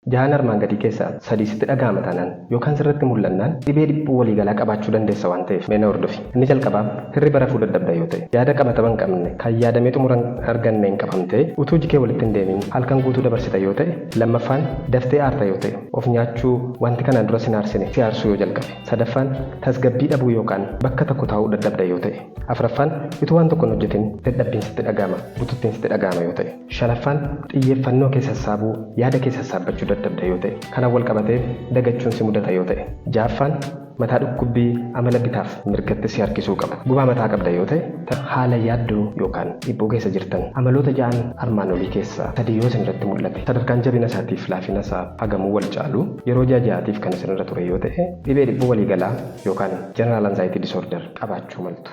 Jahaan armaan gadii keessaa sadii sitti dhaga'ama taanaan yookaan sirratti mul'annaan dhibee dhiphuu waliigalaa qabaachuu dandeessa waan ta'eef mee na hordofi. Inni jalqabaa, hirriba rafuu dadhabda yoo ta'e, yaada qabatama hin qabne, kan yaadamee xumura hin arganneen qabamtee utuu iji kee walitti hin deemin halkan guutuu dabarsita yoo ta'e, lammaffaan, daftee aarta yoo ta'e, of nyaachuu, wanti kanaan dura sin aarsine si aarsuu yoo jalqabe, sadaffaan, tasgabbii dhabuu yookaan bakka tokko taa'uu dadhabda yoo ta'e, afraffaan, utuu waan tokko hin hojjetin dadhabbiin sitti dhaga'ama, bututtiin sitti dhaga'ama yoo ta'e. Shanaffaan, xiyyeeffannoo kee sassaabuu, yaada kee sassaabbachuu dadhabda yoo ta'e, kanan walqabatee dagachuun si mudata yoo ta'e. Ja'affaan, mataa dhukkubbii amala bitaaf mirgatti si harkisuu qabu. Gubaa mataa qabda yoo ta'e, ta haala yaaddoo yookaan dhiphuu keessa jirtan. Amaloota ja'an armaan olii keessaa sadii yoo isin irratti mul'ate, sadarkaan jabina isaatiif laafina isaa hagamuu wal caalu, yeroo ji'a ja'aatiif kan isin irra ture yoo ta'e, dhibee dhiphuu waliigalaa yookaan general anxiety disorder qabaachuu maltu.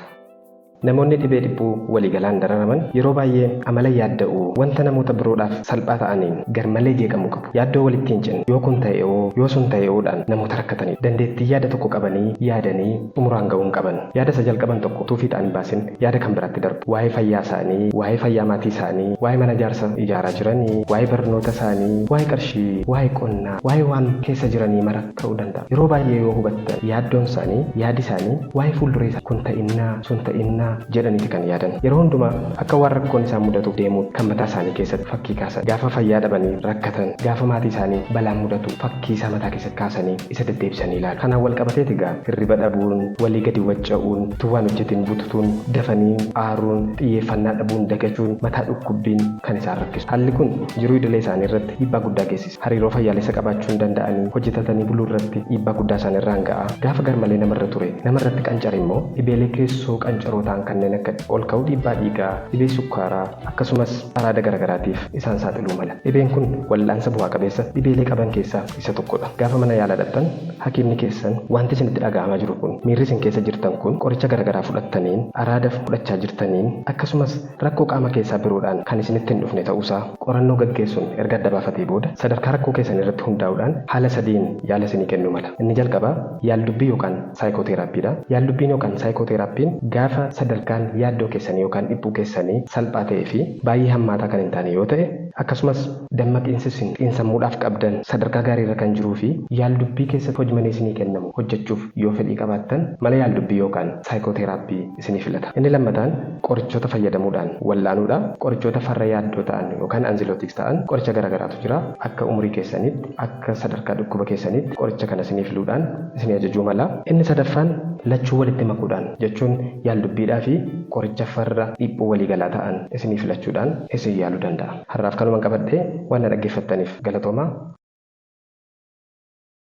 Namoonni dhibee dhiphuu waliigalaan dararaman yeroo baay'ee amala yaadda'uu wanta namoota biroodhaaf salphaa ta'aniin garmalee jeeqamuu qabu. Yaaddoo walitti hin cinne, yoo kun ta'e'oo, yoo sun ta'e'oodhaan namoota rakkataniidha. Dandeettii yaada tokko qabanii yaadanii xumuraan ga'uu hin qaban. Yaada isa jalqaban tokko utuu fiixaan hin baasin yaada kan biraatti darbu. Waa'ee fayyaa isaanii, waa'ee fayyaa maatii isaanii, waa'ee mana ijaarsa ijaaraa jiranii, waa'ee barnoota isaanii, waa'ee qarshii, waa'ee qonnaa, waa'ee waan keessa jiranii mara, ta'uu danda'a. Yeroo baay'ee yoo hubattan yaaddoon isaanii, yaadi isaanii waa'ee fuulduree isaanii kun ta'innaa, sun ta'innaa jedhaniiti kan yaadan. Yeroo hundumaa akka waan rakkoon isaan mudatuuf deemuutti kan mataa isaanii keessatti fakkii kaasan. Gaafa fayyaa dhabanii rakkatan, gaafa maatii isaanii balaan mudatu fakkii isaa mataa keessatti kaasanii isa deddeebisanii ilaalu. Kanaan wal qabateeti egaa hirriba dhabuun, walii gadi wacca'uun, utuu waan hojjetiin bututuun, dafanii aaruun, xiyyeeffannaa dhabuun, dagachuun, mataa dhukkubbiin kan isaan rakkisu. Haalli kun jiruu idilee isaanii irratti dhiibbaa guddaa geessisa. hariiroo fayyaalessa qabaachuu hin danda'anii hojjetatanii buluu irratti dhiibbaa guddaa isaan irraan ga'a. Gaafa garmalee nama irra ture nama irratti qancare immoo dhibeelee keessoo qancaroo ta'an kanneen akka ol ka'uu dhiibbaa dhiigaa, dhibee sukkaaraa, akkasumas araada garagaraatiif isaan saaxiluu mala. Dhibeen kun wal'aansa bu'aa qabeessa dhibeelee qaban keessaa isa tokko dha. Gaafa mana yaalaa dhaqxan hakiimni keessan wanti isinitti dhaga'amaa jiru kun, miirri isin keessa jirtan kun qoricha garagaraa fudhattaniin, araada fudhachaa jirtaniin, akkasumas Rakkoo qaama keessaa biroodhaan kan isinitti hin dhufne ta'uusaa qorannoo gaggeessuun erga adda baafatee booda, sadarkaa rakkoo keessaniirratti hundaa'uudhaan haala sadiin yaala isinii kennuu mala. Inni jalqabaa yaaldubbii yookaan saayikooteeraappiidha. Yaaldubbiin yookaan saayikooteeraappiin gaafa sadarkaan yaaddoo keessanii yookaan dhiphuu keessanii salphaa ta'ee fi baay'ee hammaataa kan hin taane yoo ta'e, akkasumas dammaqiinsi isin xiinsammuudhaaf qabdan sadarkaa gaariirra kan jiruu fi yaaldubbii keessatti hojmanee isinii kennamu hojjechuuf yoo fedhii qabaattan mala yaaldubbii yookaan saayikooteeraappii isinii filata. Inni lammataan qorichoota fayyadamuudhaan wal'aanuudha. Qorichoota farra yaaddoo ta'an yookaan anxilootiks ta'an qoricha gara garaatu jira. Akka umurii keessaniitti, akka sadarkaa dhukkuba keessaniitti qoricha kana isinii filuudhaan isinii ajajuu mala. Inni sadaffaan lachuu walitti makuudhaan jechuun yaaldubbiidhaa fi qoricha farra dhiphuu walii galaa ta'an isinii filachuudhaan isin yaaluu danda'a. Har'aaf kanuman qabadhe. Waan na dhaggeeffattaniif galatoomaa.